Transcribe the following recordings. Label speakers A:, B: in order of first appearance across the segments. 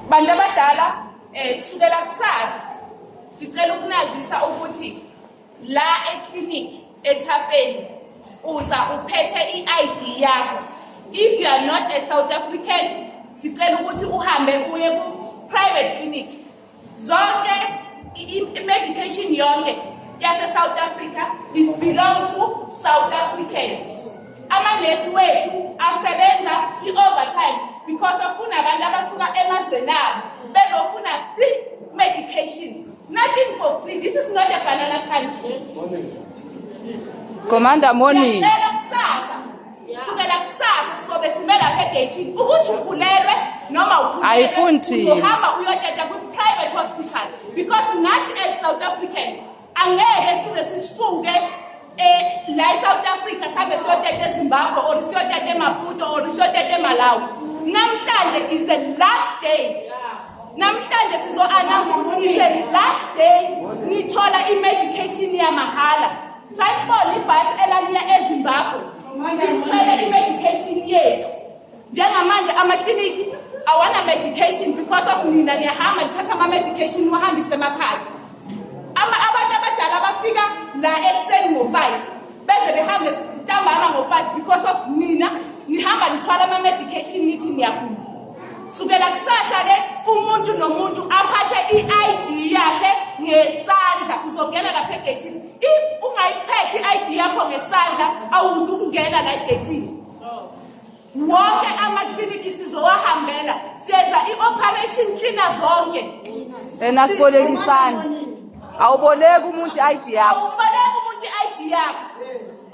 A: bantu abadala um kusukela kusasa sicela ukunazisa ukuthi la eclinic ethafeni uza uphethe i-id yakho if you are not a south african sicela ukuthi uhambe uye ku-private clinic zonke i-medication yonke yase-south africa is belong to south africans amanesi wethu asebenza i-overtime because of kunabantu abasuka emazweni abo bezofuna free medication nothing for free this is not a banana country
B: commander morning
A: kusukela kusasa sizobe sime lapha egeyithini ukuthi ukhulelwe noma ukhulelweuzohamba
B: uyoteta
A: kwi-private hospital because nathi as south africans angeke size sisuke um la e-south africa sihambe siyoteta ezimbabwe or siyoteta emaputo or siyoteta emalawi namhlanje is the last day namhlanje sizo-announce ukuthi is the last day nithola i-medication yamahhala Sayibona ibhasi elaliya eZimbabwe lithwele i-medication yethu njengamanje amakliniki awana-medication because of nina niyahamba nithatha ama-medication niwahambise emakhaya abantu abadala bafika la ekuseni ngo-five beze behambe ntambama ngo-five because of nina nihamba nithwala ama-medication nithi niyagula sukela kusasa-ke umuntu nomuntu aphathe i-id yakhe ngesandla uzongena lapha egeythini if ungayiphethi i-id yakho ngesandla awuzi ukungena la egethini wonke amakliniki sizowahambela siyenza i-operation cleana zonke ena
B: sibolekisana awuboleki umuntu i-id yakho awuboleki umuntu i-id
A: yakho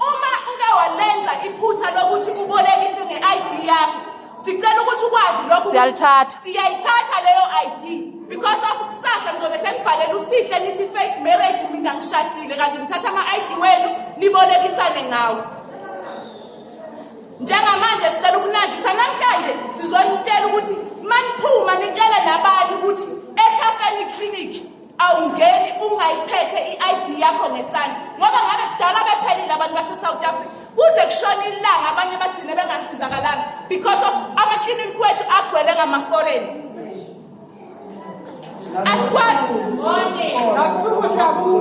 A: uma uke walenza iphutha lokuthi ubolekise nge-id yakho sicela ukuthi ukwazi lokho siyalithatha siyayithatha
B: leyo
A: ID because of kusasa ngizobe senibhalela usihle nithi fake marriage mina ngishadile kanti ngithatha ama ID wenu nibolekisane ngawo njengamanje sicela ukunazisa namhlanje sizonitshela ukuthi maniphuma nitshele nabanye ukuthi ethafeni clinic awungeni ungayiphethe i-id yakho ngesandla ngoba ngabe kudala bephelile abantu base-south africa kuze kushona ilanga abanye bagcine bengasizakalanga because of amakliniki kwethu agcwele ngama-foreign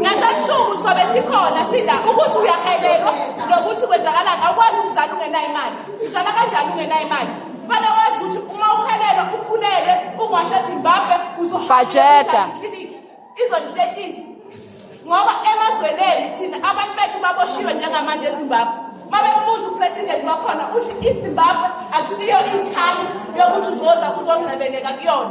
A: nasebusuku sobe sikhona sila ukuthi uyahelelwa nokuthi kwenzakalani awukwazi ukuzala ungenayo imali uzala kanjani ungenayo imali Fanele wazi ukuthi uma uhelelwa ukhulelwe ungasezimbabwe uzobajeda izonitetisa ngoba emazweneni thina abantu bethu baboshiwe njengamanje ezimbabwe uma bebuza upresident wakhona uthi izimbabwe akusiyo ikhali yokuthi uzoza kuzongcebeleka kuyona